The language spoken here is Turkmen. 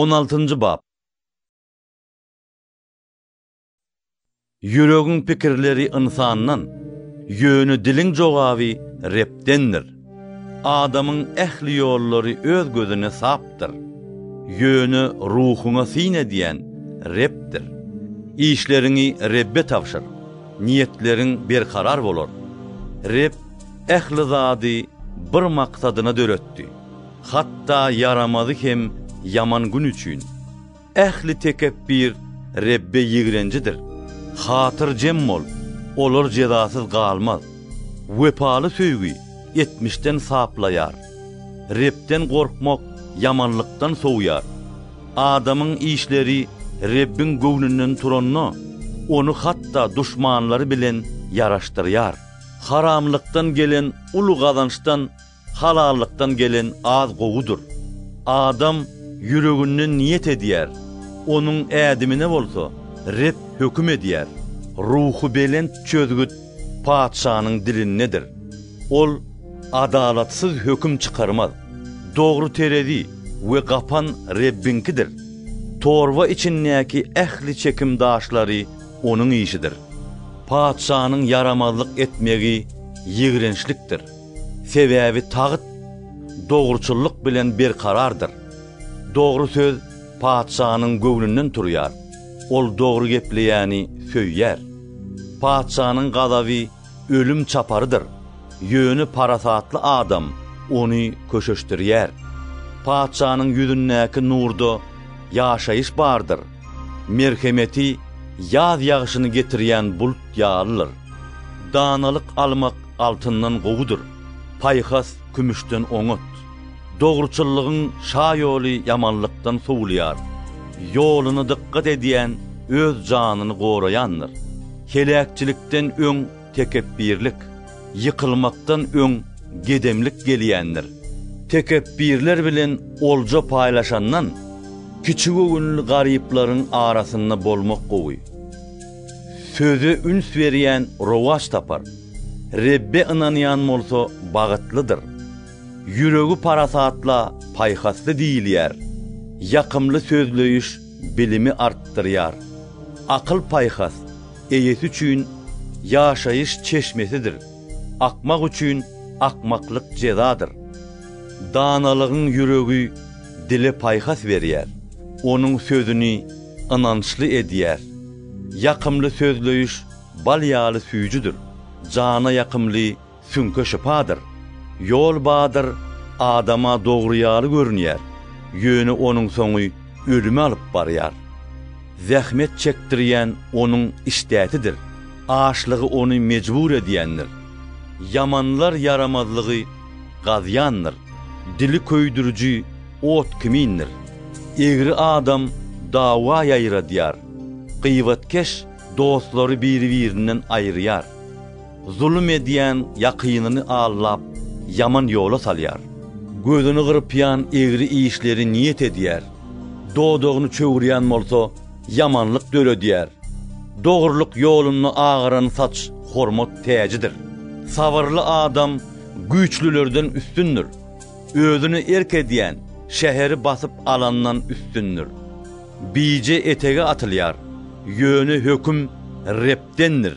On altynjy bap. Ýüregiň pikirleri ynsandan, ýöne diliň jogaby Rebdendir. Adamyň ähli ýollary öz gözüne sapdyr, ýöne ruhuňa syn edýän Rebdir. Işleriňi Rebbe tabşyr, niýetleriň berkarar bolar. Reb ähli zady bir maksadyna döretdi. Hatda ýaramazy hem ýaman gün üçin. Ähli tekepbir Rebbe ýigrenjidir. Hatyrjem bol, olar jezasyz galmaz. Wepaly söýgi etmişden saplaýar. Rebden gorkmak ýamanlykdan sowýar. Adamyň işleri Rebbiň göwnünden turanda, ony hatda duşmanlary bilen ýaraşdyrýar. Haramlykdan gelen uly gazançdan Halallykdan gelen az gowudyr. Adam ýüreginden niýet edýär, onuň ädimine bolsa Reb höküm edýär. Ruhubelent çözgüt patyşanyň dilindedir. Ol adalatsyz höküm çykarmaz. Dogry terezi we gapan Rebbiňkidir. Torba içindäki ähli çekim daşlary Onuň işidir. Patyşanyň ýaramazlyk etmegi ýigrençlikdir. Sebäbi tagt dogruçyllyk bilen berkarardyr. Dogry söz patyşanyň göwnünden turýar, ol dogry gepleýäni söýýär. Patyşanyň gazaby ölüm çaparydyr, ýöne parasatly adam ony köşeşdirýär. Patyşanyň ýüzündäki nurda ýaşaýyş bardyr, merhemeti ýaz ýagşyny getirýän bult ýalydyr. Danalyk almak Altyndan gowudyr, paýhas kümüşden oňat. Dogruçyllygyň şa ýoly ýamanlykdan sowulýar. Ýoluna dykgat edýän öz janyny goraýandyr. Heläkçilikden öň tekepbirlik, ýykylmakdan öň gedemlik gelýändir. Tekepbirler bilen olja paýlaşandan, kiçigöwünli garyplaryň arasynda bolmak gowy. Söze üns berýän rowaç tapar, Rebbe ynanýan bolsa bagytlydyr. Ýüregi parasatla paýhasly diýilýär, ýakymly sözleýiş bilimi artdyrýar. Akyl-paýhas eýesi üçin ýaşaýyş çeşmesidir, akmak üçin akmaklyk jezadyr. Danalygyň ýüregi dile paýhas berýär, onuň sözüni ynançly edýär. Ýakymly sözleýiş bal ýaly süýjüdir, jana ýakymly süňke şypadyr. Ýol badyr adama dogry ýaly görünýär, ýöne onuň soňy ölüme alyp barýar. Zähmet çekdirýän onuň işdäsidir, açlygy ony mejbur edýändir. Ýamanlar ýaramazlygy Gazýandyr. Dili köýdüriji ot kimindir. Egri adam dawa ýaýradýar. Gybatkeş dostlary biri-birinden aýyrýar. Zulum edýän ýakynyny aldap, ýaman ýola salýar. Gözüni gyrpýan egri işleri niýet edýär. Dodagyny çöwürýän bolsa, ýamanlyk döredýär. Dogrulyk ýolunda agaran saç hormat täjidir. Sabyrly adam güýçlülerden üstündir, özüne erk edýän şäheri basyp alandan üstündir. Bije etege atylýar, ýöne höküm Rebdendir.